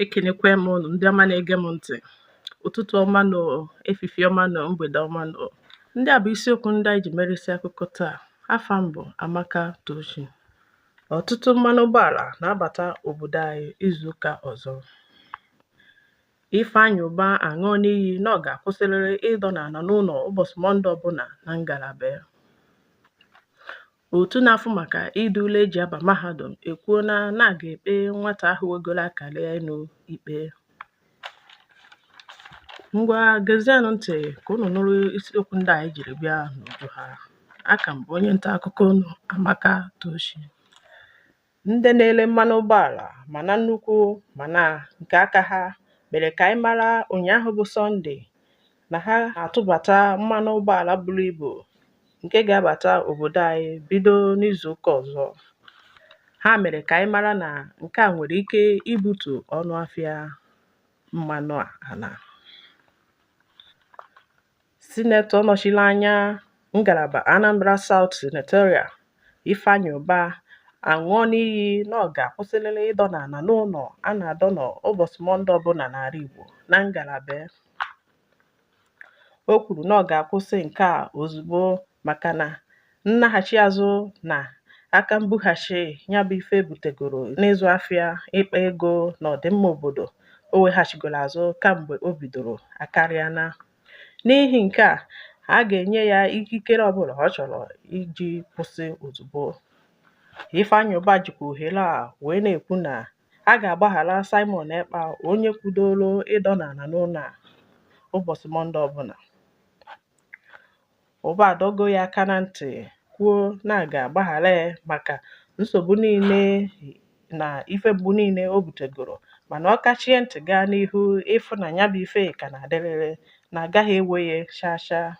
ekenekwa m ụnụ ndị ọma na-ege m ntị ụtụtụ ọma nụ efifie ọma nụ mgbede ọma nụ ndị a bụ isiokwu ndị anyị ji mere isi akụkọ taa afa m bụ Amaka Tochi ọtụtụ mmanụ ụgbọala na-abata obodo anyị izuụka ọzọ Ifeanyi Uba aṅụọna iyi na ọ ga-akwụsịrịrị ịdọ n'ala n'ụlọ ụbọchị Mọnde ọbụla na ngalaba ya Otu na-afụ maka ide ule e ji aba mahadum ekwuola na a ga-ekpe nwata ahụ wegoro akara ya elu ikpe. Ngwa gezienụ ntị ka unu nụrụ isiokwu ndị anyị jiri bịa n'uju ha. Aka m bụ onye nta akụkọ unu Amaka Tochi. Ndị na-ere mmanụ ụgbọala ma na nnukwu ma na nke aka ha mere ka anyị mara ụnyaahụ bụ Sọnde na ha atụbata mmanụ ụgbọala buru ibu nke ga-abata obodo anyị bido n'izuụka ọzọ. Ha mere ka anyị mara na nke a nwere ike ibutu ọnụ afịa mmanụ ala. Sinetọ nọchiri anya ngalaba Anambra South Senatorial Ifeanyi Ubah aṅụọna iyi na ọ ga-akwụsịlịlị ịdọ n'ala n'ụlọ a na-adọ n'ụbọchị Mọnde ọbụla n'ala Igbo na ngalaba ya. O kwuru na ọ ga-akwụsị nke a ozugbo maka na nnaghachi azụ na aka mbughachi ya bụ ife butegoro n'ịzụ afịa, ịkpa ego na ọdịmma obodo o weghachigoro azụ kamgbe o bidoro akarịana N'ihi nke a, a ga-enye ya ikikere ọbụla ọ chọrọ iji kwụsị ozugbo. Ifeanyi Uba jikwa ohere a wee na-ekwu na a ga-agbaghara Simon Ekpa onye kwudoro ịdọ n'ala n'ụlọ a ụbọchị Mọnde ọbụla. Ụba adọgo ya aka na ntị kwuo na a ga-agbaghara ya maka nsogbu niile na ife mgbu niile o butegoro mana ọ kachie ntị gaa n'ihu ịfụ na ya bụ ife ka na-adịrịrị na a gaghị ewe ya chaa chaa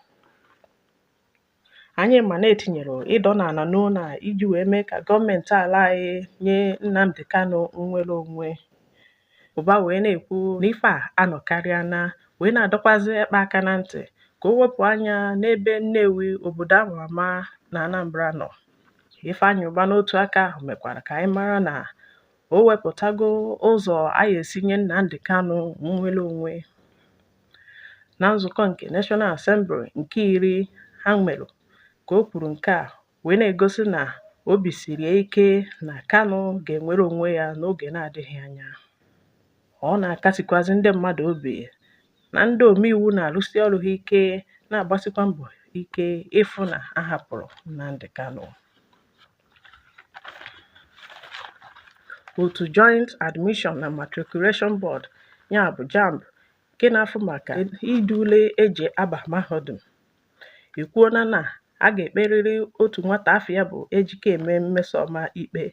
anyị ma na e tinyere ịdọ n'ala n'ụlọ a iji wee mee ka gọọmenti ala anyị nye Nnamdi Kanu nnwere onwe Ụba wee na-ekwu na ife a anọkarịana wee na-adọkwazị Ekpa aka na ntị ka o wepụ anya n'ebe Nnewi obodo a ma ama na Anambra nọ. Ifeanyị Ụba n'otu aka ahụ mekwara ka anyị mara na o wepụtago ụzọ a ya-esi nye Nnamdi Kanu nnwere onwe. Na nzukọ nke National Assembly nke iri ha nwere ka o kwuru nke a wee na-egosi na obi siri ya ike na Kanu ga-enwere onwe ya n'oge na-adịghị anya. Ọ na-akasikwazi ndị mmadụ obi na ndị omeiwu na-arụsi ọrụ ha ike na-agbasikwa mbọ ike ịfụ na a hapụrụ Nnamdi Kanu. Otu Joint Admission na Matriculation Board ya bụ JAMB nke na-afụ maka ide ule eji aba mahadum ekwuola na a ga-ekperịrị otu nwata afa ya bụ Ejikeme Mmesoma ikpe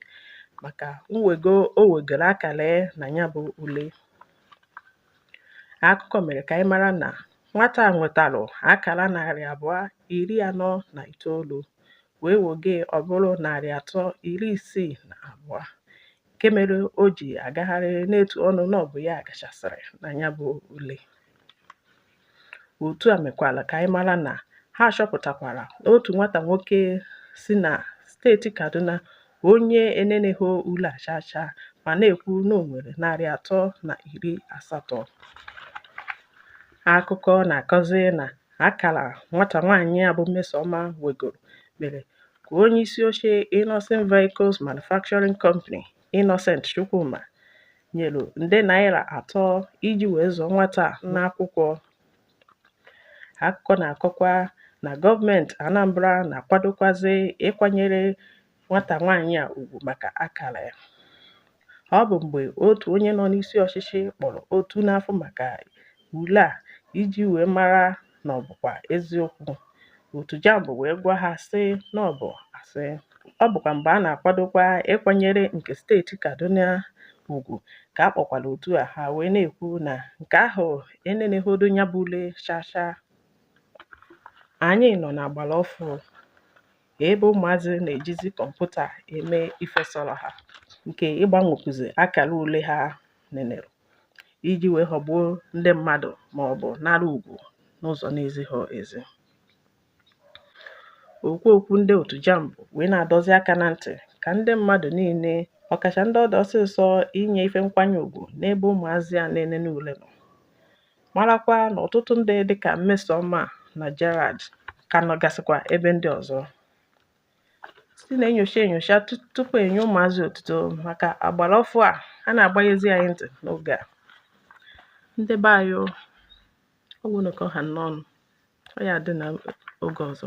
maka mwego o wegoro akara na ya bụ ule akụkọ mere ka anyị mara na nwata a nwetara akara narị abụọ iri anọ na itoolu wee woge ọ bụrụ narị atọ iri isii na abụọ nke mere o ji agagharị na-etu ọnụ na ọ bụ ya gachasịrị na ya bụ ule Otu a mekwara ka anyị mara na ha chọpụtakwara na otu nwata nwoke si na steeti Kaduna bụ onye eneneghị ule a chacha ma na-ekwu na o nwere narị atọ na iri asatọ. Akụkọ na-akọzi na akara nwata nwaanyị a bụ Mmesoma wegoro mere ka onyeisi oche Innoson Vehicles Manufacturing Company, Innocent Chukwuma nyere nde naira atọ iji wee zụọ nwata a n'akwụkwọ akụkọ na-akọkwa na gọọmenti Anambra na-akwadokwazi ịkwanyere nwata nwaanyị a ugwu maka akara ya ọ bụ mgbe otu onye nọ n'isi ọchịchị kpọrọ otu na-afụ maka ule a iji wee mara na ọ bụkwa eziokwu. Otu JAMB wee gwa ha sị na ọ bụ asị. Ọ bụkwa mgbe a na-akwadokwa ịkwanyere nke steeti Kaduna ugwu ka a kpọkwara otu a ha wee na-ekwu na nke ahụ enenehọdụ ya bụ ule chacha. Anyị nọ n'agbara ọfụụ ebe ụmụazị na-ejizi kọmputa eme ife sọrọ ha nke ịgbanwekwuzi akara ule ha nenere. iji wee ghọgbuo ndị mmadụ ma ọ bụ nara ugwu n'ụzọ na-ezighị ezi okwu okwu ndị otu JAMB wee na-adọzi aka na ntị ka ndị mmadụ niile ọkacha ndị ọ dụ ọsịsọ inye ife nkwanye ugwu n'ebe ụmụazị a na-enene ule nọ marakwa na ọtụtụ ndị dịka Mmesoma na Gerald ka nọgasịkwa ebe ndị ọzọ sị na-enyocha enyocha tupu e nye ụmụazị otuto maka agbara ọfụụ a a na-agbanyezi anyị ntị n'oge a ndị be anyị ọ gwụna ka ọ ha n'ọnụ ọ ya-adị n'oge ọzọ